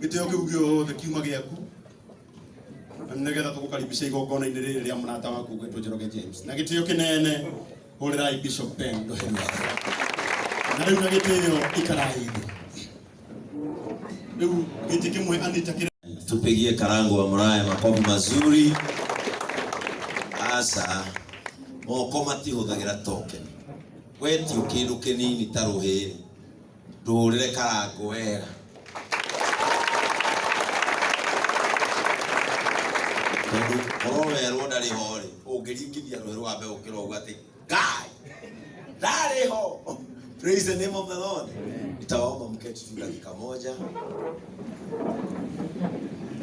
gĩtĩo kĩu gĩothe kiuma gĩaku nĩgetha tũgũkaribisha igongona-inĩ rĩrĩ rĩa mũrata waku gwĩtwo Njoroge James na gĩtĩo kĩnene hũrĩrai Bishop Ben Ndoheri na rĩu na gĩtĩo ikarai thĩ rĩu gĩtĩ kĩmwe Anita kĩrĩ Tupigie Karangu wa Muraya makofi mazuri. Asa moko matihũthagĩra tokeni, wetio kĩndũ kĩnini ta rũhĩĩ ndũhũrĩre karangũ wega tondũ korwo werwo ndarĩ ho rĩ ũngĩringithia rũĩ rwa mbegũ kĩrogu atĩ ngai ndarĩ ho praise the name of the lord nitawaomba mketi tu dakika moja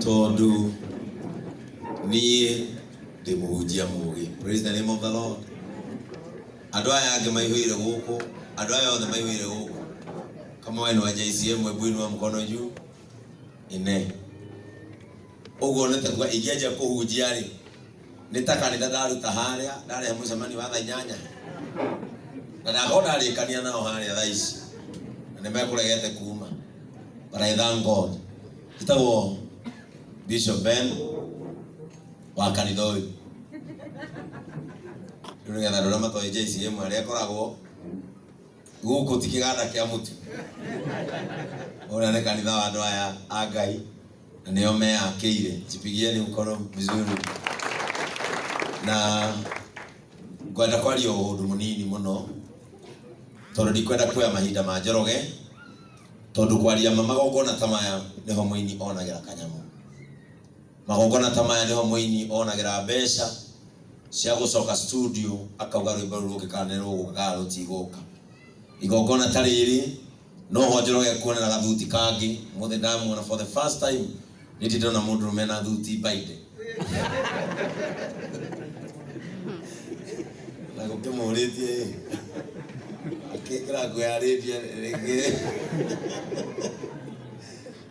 tondũ niĩ ndĩ mũhunjia mũgĩ praise the name of the lord Andũ aya angĩ maihũire gũkũ, andũ aya othe maihũire gũkũ. Kama wewe ni wa JCM, hebu inua mkono juu. Ine. Ũguo nĩ taguo ingĩanjia kũhunjia rĩ, nĩ ta kanitha ndaruta harĩa, ndarehe mũcemanio wa thaa inyanya. Na ndakorwo ndarĩkania nao harĩa thaa ici. Na nĩ mekũregete kuma. But I thank God. Njĩtagwo Bishop Ben wa kanitha ũyũ rĩu nĩgetha andũ arĩa matoĩ JCM arĩa akoragwo gũkũ ti kĩganda kĩa mũtu ũrĩa nĩ kanitha wa andũ aya a ngai na nĩo meyakĩire jipigieni mkono vizuri na ngwenda kwaria ũndũ mũnini mũno tondũ ndikwenda kuoya mahinda ma njoroge tondũ kwaria ma magongona ta maya nĩho mũini onagĩra kanyamũ Magongona ta maya nĩho mũini onagĩra mbeca cia gũcoka studio akauga rwĩmbo rũu rũngĩkaga nĩ rũgũkaga rũtigũka. Igongona ta rĩrĩ noho Njoroge ekuonera gathuti kangĩ, ũmũthĩ ndamuona for the first time nĩndĩ ndona mũndũrũme ena thuti mbainde. Na gũkĩmũrĩtie ĩ, akĩkĩra nguo ya rĩndia rĩngĩ.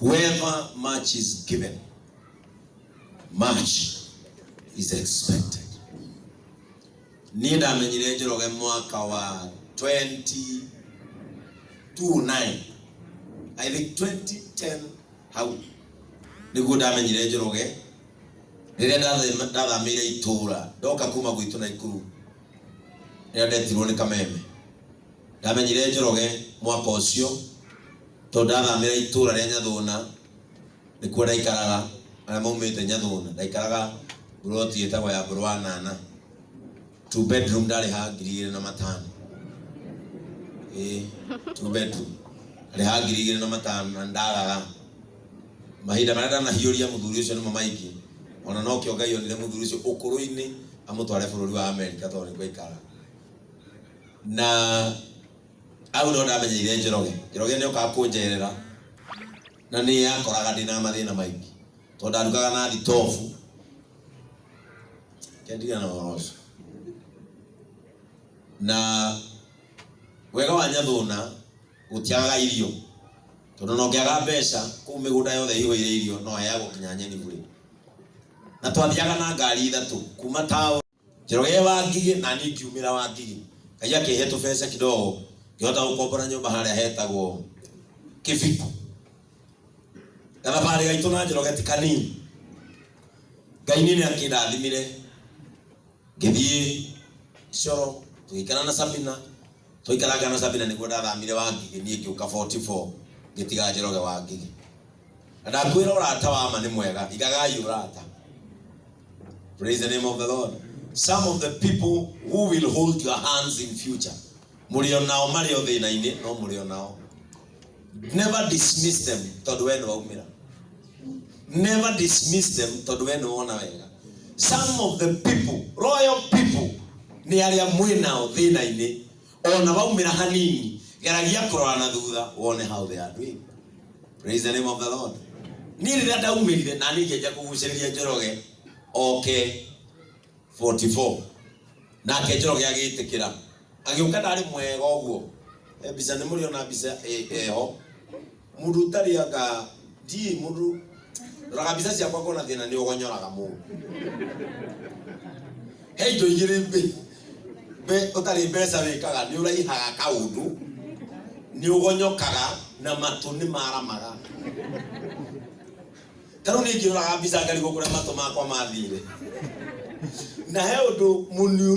Whoever much is given, much is expected. Niĩ ndamenyire Njoroge mwaka wa 2029 I think 2010 hau nĩguo ndamenyire Njoroge rĩrĩa ndathema- ndathamĩire itũũra ndoka kuma gwitũ na ikuru rĩrĩa ndetirwo nĩ kameme ndamenyire Njoroge mwaka ũcio Tondũ ndathamĩra itũũra rĩa Nyathũna, nĩkuo ndaikaraga, arĩa maumĩte Nyathũna, ndaikaraga buroti ĩtagwo ya ngoro wa nana two bedroom ndarĩha ngiri igĩrĩ na matano ĩĩ two bedroom ndarĩha ngiri igĩrĩ na matano na ndaraga mahinda marĩa ndanahiũria mũthuri ũcio nĩmo maingĩ ona no kĩo ngai onire mũthuri ũcio ũkũrũ-inĩ amũtware bũrũri wa amerika tondũ nĩkuo aikara na Hau no ndamenyeire Njoroge. Njoroge nĩ okaga kũnjerera na nĩ yakoraga ndĩ na mathĩna maingĩ tondũ ndarugaga na thitobu. Reke ndige na ũhoro ũcio. Na wega wa Nyathũna gũtiagaga irio tondũ na ũngĩaga mbeca kũu mĩgũnda yothe ĩihũire irio no heagwo nginya nyeni burĩ. Na twathiaga na ngari ithatũ kuma taũni. Njoroge wa Ngigĩ na niĩ ngiumĩra wa Ngigĩ. Ngai akĩhe tũbeca kidogo ngĩhota gũkombora nyũmba harĩa hetagwo Kĩbiku. Gathabarĩ gaitũ na Njoroge ti kanini. Ngai niĩ nĩ akĩndathimire ngĩthiĩ Coro tũgĩikara na Sabina. Twaikaranga na Sabina nĩguo ndathamire wa Ngigĩ niĩ ngĩũka 44 ngĩtiga Njoroge wa Ngigĩ. Na ndakwĩra ũrata wa ma nĩ mwega, igagai ũrata. Praise the name of the Lord. Some of the people who will hold your hands in future, mũrĩ o nao marĩ o thĩna-inĩ, no mũrĩ o nao. Never dismiss them tondũ we nĩ waumĩra. Never dismiss them tondũ we nĩ wona wega. Some of the people, royal people, nĩ arĩa mwĩ nao thĩna-inĩ, O na waumĩra hanini geragia kũrora na thutha wone how they are doing. Praise the name of the Lord. Niĩ rĩrĩa ndaumĩrire na niĩ ngĩanjia kũgucĩrĩria Njoroge oke 44 nake Njoroge agĩtĩkĩra agĩũka ndarĩ mwega ũguo. He mbica nĩ mũrĩ ona mbica ĩ- ĩho Mũndũ ũtarĩaga ndiĩ mũndũ roraga mbica ciakwa ngona thĩna nĩ ũgonyoraga mũndũ he indo igĩrĩ mbĩ mbĩ ũtarĩ mbeca wĩkaga nĩ ũraihaga kaũndũ nĩ ũgonyokaga na matũ nĩ maramaga tarĩu nĩ ngĩroraga mbica ngarigwo kũrĩa matũ makwa mathire na he ũndũ mũniũ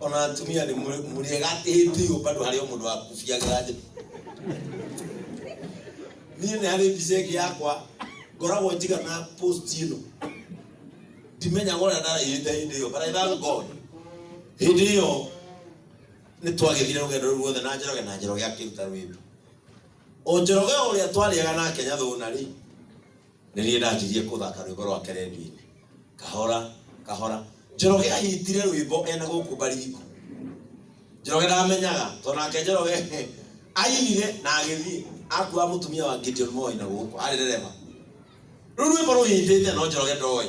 ona atumia nĩ mũrĩega atĩhĩtio bado harĩ o mũndũ wakubiagĩra njĩra niĩ nĩ harĩ mbica ĩngĩ yakwa ngoragwo njiga na post ĩno ndimenyaga ũrĩa ndarĩhĩte hĩndĩ ĩyo but I thank God hĩndĩ ĩyo nĩ twagĩthire rũgendo rũu ruothe na njoroge na njoroge akĩruta rwĩmbo o njoroge ũrĩa twarĩaga nake nyathũna rĩ nĩ niĩ ndanjirie kũthaka rwĩmbo rwake rendio-inĩ kahora kahora njoroge anyitire rwĩmbo ena gũkũ mbaringo njoroge ndamenyaga to nake njoroge ainire na agĩthiĩ akua mũtumia wa Gideon Moi na gũkũ arĩ ndereba rĩu rwĩmbo rũhĩndĩte no njoroge ndoĩ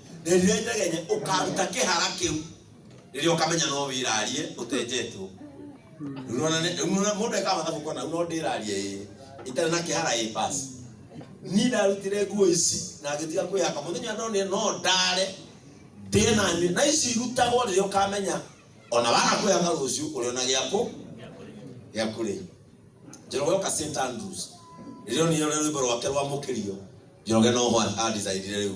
na rĩrĩa itegenye ũkaruta kĩhara kĩu rĩrĩa ũkamenya no wĩrarie ũtenjetwo Rĩu nĩwona nĩ- rĩu nĩwona mũndũ ekaga mathabu kona no ndĩrarie ĩ itarĩ na kĩhara ĩ basi niĩ ndarutire nguo ici na ngĩtiga kwĩhaka mũthenya ndonire no ndare ndĩe na nyue na ici irutagwo rĩrĩa ũkamenya ona waga kwĩhaka rũciũ ũrĩona gĩakũ gĩa kũrĩa njoroge oka st andrews rĩrĩa onire ũrĩa rwĩmbo rwake rwamũkĩrio njoroge no ho andicaidire rĩu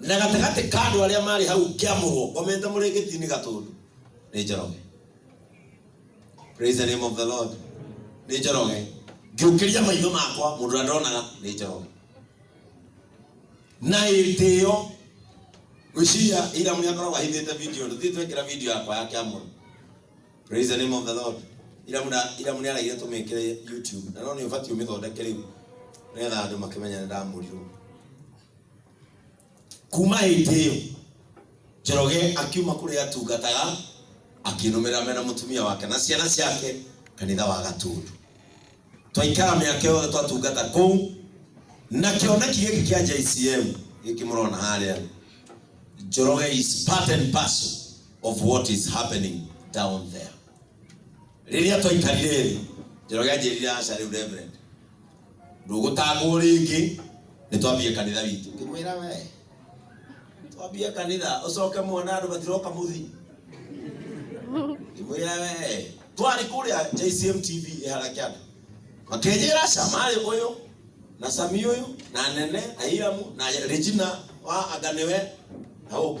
na gatagatĩ ka andũ arĩa marĩ hau ngĩamũrwo ngomete mũrĩngĩti-inĩ gatũndũ nĩ njoroge praise the name of the lord nĩ njoroge ngĩũkĩria maitho makwa mũndũ ũrĩa ndonaga nĩ njoroge na ĩtĩo gwĩciria ira mũrĩa ngoragwo ahithĩte video ndũthiĩ twekĩra video yakwa ya kĩamũrwo Praise the name of the Lord. Ira muna ira muna araire tumikire YouTube. Na no ni ubati umithondeke riu. Nigetha andu makimenya ni ndamurirwo. Kuma hindi iyo Njoroge akiuma kuri atungataga akinumira mena mutumia wake na ciana ciake kanitha wa Gatundu. Twaikara miaka yothe twatungata kuu na kioneki giki kia JCM giki murona haria Njoroge is part and parcel of what is happening down there rĩrĩa twaikarire thĩ njoroge anjĩrire aca rĩu reverend ndũgũtangwo rĩngĩ nĩ twambie kanitha witũ ngĩmwĩra we twambie kanitha ũcoke mwana andũ matiroka mũthii ngĩmwĩra we twarĩ kũrĩa jcm tv ĩhara kĩanda makenjĩra aca marĩ ũyũ na sami ũyũ na nene na iramu na regina wa anganewe na ũngĩ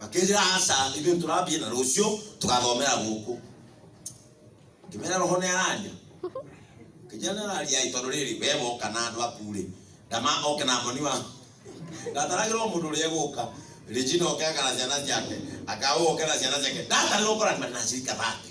makĩnjĩra aca ithuĩ tũrambie na rũciũ tũgathomera gũkũ ngĩmera roho nĩ araria kijana araria tondũ rĩrĩ we woka na andũ aku rĩ ndama oke na moni wa ndataragĩrwo mũndũ ũrĩa egũka Regina oke aka na ciana ciake akaũ oke na ciana ciake ndatarĩrwo kora na cirika thate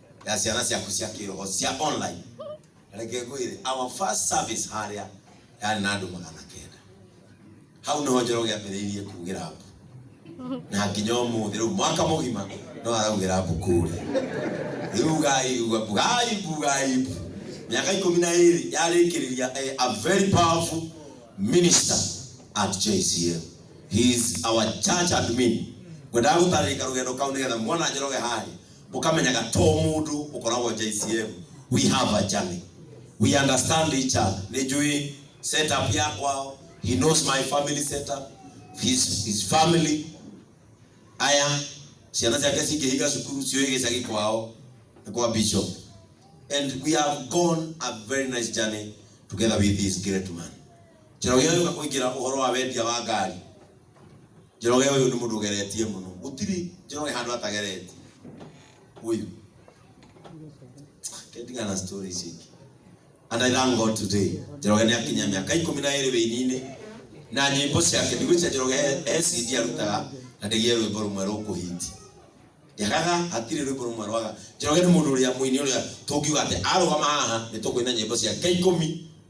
ya ciana ciaku cia kĩroho cia online reke ngwĩre our first service harĩa yarĩ na andũ magana kenda hau nĩho njoro gĩambĩrĩirie kugĩra mbu na nginya ũmũthĩ rĩu mwaka mũgima no araugĩra mbu kũrĩa rĩu gai uga mbu gai mbu gai mbu mĩaka ikũmi na ĩrĩ yarĩkĩrĩria eh, a very powerful minister at JCL he is our church admin ngwendaga gũtarĩka rũgendo kau nĩgetha mwana njoroge harĩa mũkamenyaga to mũndũ ũkoragwo JCM we have a journey we understand each other nĩ njũĩ setup ya kwao he knows my family setup his, his family aya ciana ciake cingĩhinga cukuru cioĩ gĩcagi kwao nĩ kwa bishop and we have gone a very nice journey together with this great man njĩra ũyũ yoka kũingĩra ũhoro wa wendia wa ngari Njoroge uyu ni mundu ugeretie muno. Gutiri Njoroge handu atageretie. Uyu. Kendiga na story ici. And I thank God today. Njoroge ni akinya miaka ikumi na iri wini-ini na nyimbo ciake ndigwicia Njoroge he CD arutaga na ndigie rwimbo rumwe rukuhiti. Yagaga hatirĩ rwimbo rumwe rwaga. Njoroge ni mundu uria muini uria tungiuga ati arugama haha ni tukuina nyimbo ciake ikumi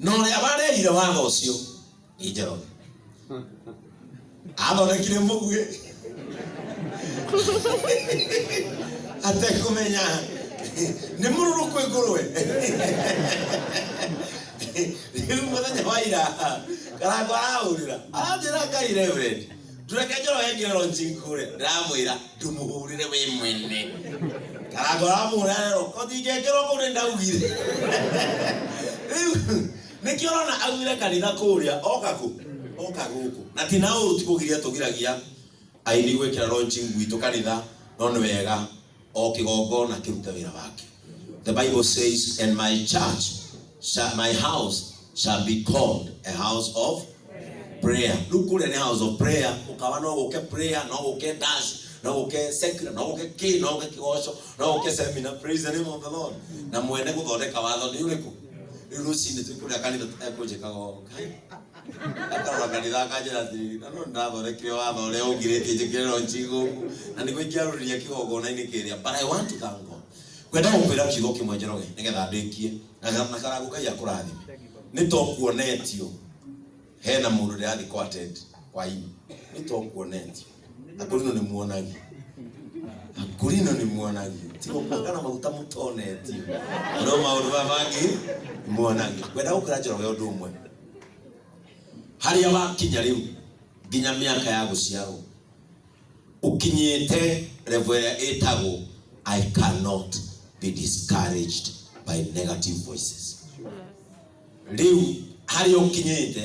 na ũrĩa warehire watho ũcio nĩ njoroge athondekire mũguĩ atekũmenya nĩ mũrũrũ kwĩ ngũrwe rĩu mũthenya wa ira karango arahũrĩra aranjĩra ngai reverend ndureke njoro yengi rero njinkure ndamwira ndumuhurire we mwene karagora mura rero kothingekirwo kuu nindaugire riu nikio rona augire kanitha kuria oka ku oka guku na ti na uru ti kugiria tugiragia aini gwikira ronji gwitũ kanitha no nĩ wega o kĩgongona kĩrute wĩra wake the bible says and my church shall, my house shall be called a house of prayer rĩu kũrĩa nĩ house of prayer ũkawa no gũke prayer no gũke dash no gũke secula no gũke kĩ no gũke kĩgoco no gũke seminar praise the name of the lord na mwene gũthondeka watho nĩ ũrĩkũ rĩu rũcinĩ twĩkũrĩa kanitha tũtekũnjĩkaga ũũ Ataraga ndithaka njĩra thiri na no ndĩrathondekire watho ũrĩa ũngirĩtie njĩkĩrĩrwo njigũku na nĩguo ingĩarũrĩria kĩgongona-inĩ kĩrĩa but I want to thank God kwenda gũkwĩra kiugo kĩmwe njoroge nĩgetha ndĩkie na ga- na karangu ngai akũrathime nĩ to kuonetio hena mũndũ ndĩrathiĩ kwa ted kwa ini nĩ to kuonetio akorino nĩ muonagia akorino nĩ muonagia tigo kuongana maguta mũtonetio no maũndũ maya mangĩ nĩ muonagia kwenda gũkĩra njoroge ũndũ ũmwe harĩa wakinya rĩu nginya mĩaka ya gũciarwo ũkinyĩte revo ĩrĩa ĩtagwo i cannot be discouraged by negative voices rĩu harĩa ũkinyĩte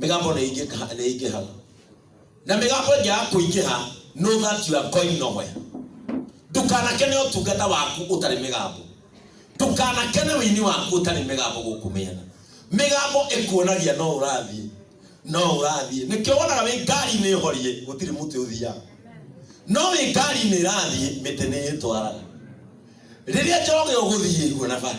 mĩgambo nĩ ingĩha- nĩ ingĩhaga na mĩgambo ĩngĩaga kũingĩha know that you are going nowhere ndũkanakene ũtungata waku ũtarĩ mĩgambo ndũkanakene wĩini waku ũtarĩ mĩgambo gũkũ mĩena mĩgambo ĩkuonagia no ũrathiĩ no ũrathiĩ nĩkĩo wonaga wĩ ngari nĩ horie gũtirĩ mũtĩ ũthiaga no wĩ ngari nĩ ĩrathiĩ mĩtĩ nĩ ĩtwaraga rĩrĩa njoroge ũgũthiĩ kuona bara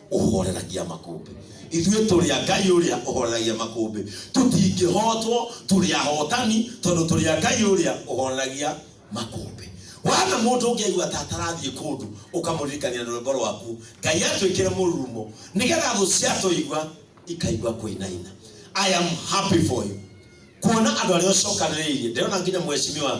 ũhoreragia makũmbĩ ithuĩ tũrĩ a ngai ũrĩa ũhoreragia makũmbĩ tũtingĩhotwo tũrĩ ahotani tondũ tũrĩ a ngai ũrĩa ũhoreragia makũmbĩ wana mũndũ ũngĩ aigua ta atarathiĩ kũndũ ũkamũririkania na rwĩmbo rwaku ngai atwĩkĩre mũrurumo nĩgetha thũ ciatũigua ikaigua kũinaina i am happy for you kuona andå arä a å cokanä rä irie ndärona nginya mwecimiwa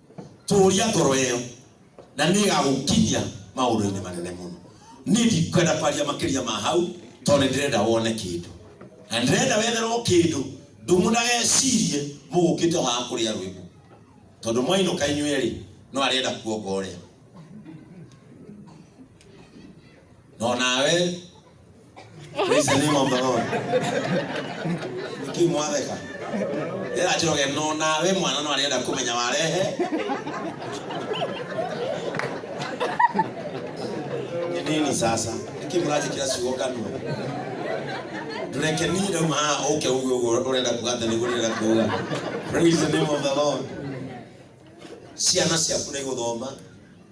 tũũria ngoro ĩyo na nĩ ĩgagũkinyia maũndũ-inĩ manene mũno niĩ ndikwenda kwaria makĩria ma hau tondũ nĩ ndĩrenda wone kĩndũ na nĩ ndĩrenda wetherwo kĩndũ ndũmũnagecirie mũgũkĩte o haha kũrĩa rwĩmbo tondũ mwainũka inyuĩ rĩ no arenda kuonga ũrĩa no nawe Praise the name of the Lord. Niki mwatheka. Ndĩra njoge no nawe mwana no arenda kũmenya warehe. Nĩ nini sasa? Niki mũranjĩkĩra ciugo kanua. Ndũreke niĩ ndauma haha ũke uge ũguo ũrenda kuga atĩ nĩguo ndĩrenda kuga. Praise the name of the Lord. Ciana ciaku nĩ igũthoma.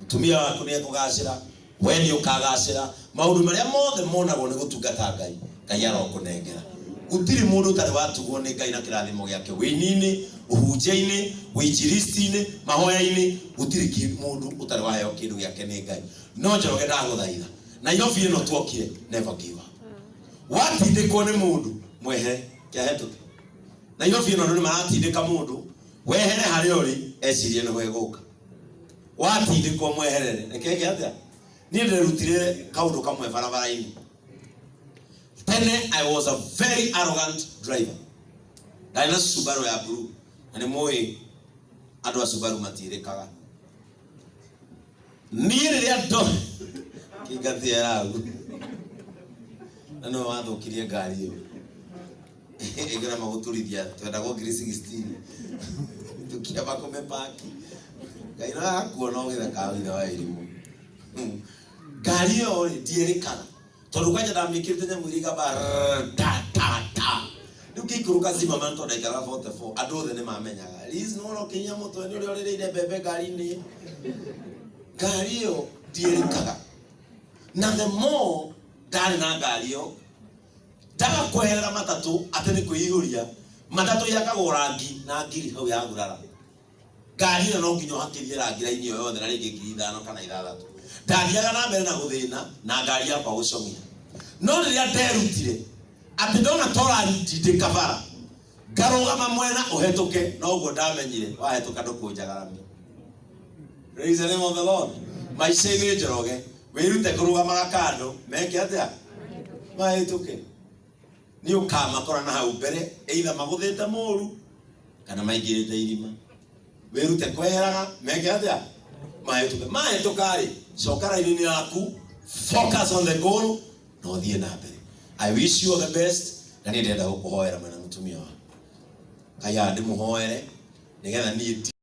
Mũtumia waku nĩ ekũgacĩra. Wee nĩũkagaacĩra. Maũndũ marĩa mothe monagwo nĩ gũtungata Ngai, Ngai arokũnengera. Gũtirĩ mũndũ ũtarĩ watugwo nĩ Ngai na kĩrathimo gĩake wĩini-inĩ, ũhunjia-inĩ, ũinjilisti-inĩ, mahoya-inĩ, gũtirĩ kĩndũ mũndũ ũtarĩ waheo kĩndũ gĩake nĩ Ngai. No Njoroge ndagũthaitha, Nairobi ĩno tuokire, never give up. Watindĩkwo nĩ mũndũ, mwehere, kĩahetũke. Nairobi ĩno andũ nĩmaratindĩka mũndũ, wehere harĩa ũrĩ, ecirie nĩho ĩgũka. watindĩkwo mweherere reke nge atĩa niĩ ndĩrerutire kaũndũ kamwe barabara-inĩ tene i was a very arrogant driver ndarĩ na subaru ya blue na nĩ mũĩ andũ a subaru matiĩrĩkaga niĩ rĩrĩa ndo kĩngatĩa yagu na no wathũkirie ngari ĩyo igera maguturithia twenda go ngiri 16 tukiamba kumepaki ngai no akuona ugitheka wira wa irimu ngari iyo ri ndierikaga tondu kwanja ndamikirite nyamu iria igamba rrrr, ta ta ta riu ngĩikũrũka zima man tondu ndaikara 44 andũ othe nĩ mamenyaga liz nĩ wona ũkĩnyia mũtwe nĩ ũrĩa ũrĩrĩire mbembe ngari-inĩ ngari iyo ndierikaga na the more ndarĩ na ngari iyo Ndaga kweherera matatũ atĩ nĩ kwĩihũria. Matatũ ĩakagwo rangi na ngiri hau ya gurara. Ngari ĩno no nginya ũhakithie rangi raini ĩyo yothe na rĩngĩ ngiri ithano kana ithathatũ. Ndathiaga na mbere na gũthĩna na ngari yakwa gũcong'ia. No rĩrĩa nderutire atĩ ndona torari ndindĩka bara, ngarũgama mwena ũhetũke noguo ndamenyire wahetũka ndũkũnjagaramia praise the name of the lord maica-inĩ njoroge wĩrute kũrũgamaga kando meke atĩa mahĩtũke nĩ ũkamakora na hau mbere either magũthĩte mũru kana maingĩrĩte irima wĩrute kweheraga meke atĩa mahĩtũke mahĩtũkarĩ coka raini-inĩ yaku focus on the goal na ũthiĩ na mbere i wish you all the best na nĩ ndĩrenda gũkũhoera mwena mũtumia waku ngai andĩmũhoere nĩgetha niĩ